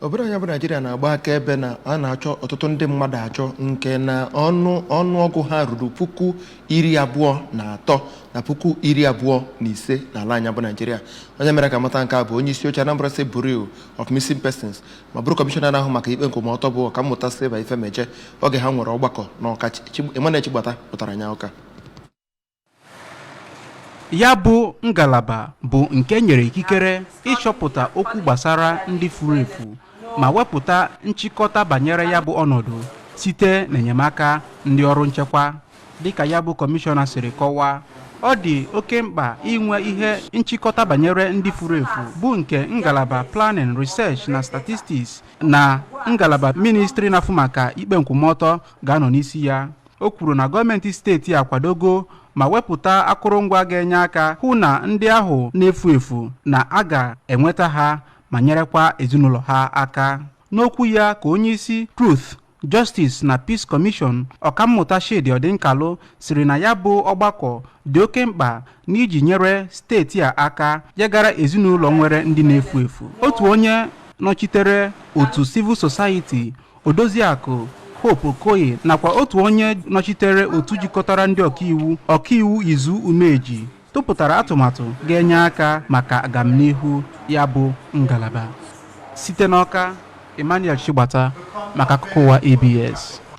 obodo anyị bụ naijiria na-agba akaebe na a na-achọ ọtụtụ ndị mmadụ achọ nke na ọnụọgụ ha ruru puku iri abụọ na atọ na puku iri abụọ na ise n'ala anyị bụ naijiria onye mere ka a mata nke a bụ onye isi oche Anambra State Bureau of Missing Persons ma bụrụ kọmishọna na-ahụ maka ikpe nkwụmọtọ bụ ọkammụta Sylvia Ifemeje oge ha nwere ọgbakọ n'Ọka Emmanuel Chigbata wetara anyị akụkọ a ya bụ ngalaba bụ nke e nyere ikikere ịchọpụta okwu gbasara ndị furu efu ma wepụta nchịkọta banyere ya bụ ọnọdụ site n'enyemaka ndị ọrụ nchekwa dịka ya bụ kọmishọna siri kọwaa ọ dị oke mkpa inwe ihe nchịkọta banyere ndị furu efu bụ nke ngalaba planning research na statistics na ngalaba ministri na-afụ maka ikpe nkwụmọtọ ga-anọ n'isi ya o kwuru na gọọmenti steeti akwadogo ma wepụta akụrụngwa ga-enye aka hụ na ndị ahụ na-efu efu na a ga-enweta ha ma nyerekwa ezinụlọ ha aka n'okwu ya ka onye isi Truth Justice na Peace Commission ọkammụta Chidi Ọdịnkalụ sịrị na ya bụ ọgbakọ dị oke mkpa n'iji nyere steeti a aka ya gara ezinụlọ nwere ndị na-efu efu otu onye nọchitere otu civil society Odoziakụ Hope Okoye nakwa otu onye nọchitere otu jikọtara ndị ọkaiwu ọkaiwu Izu Umeji tụpụtara atụmatụ ga-enye aka maka agamnihu ya bụ ngalaba. Site n'Ọka, Emmanuel Chigbata maka akụkọ ụwa ABS.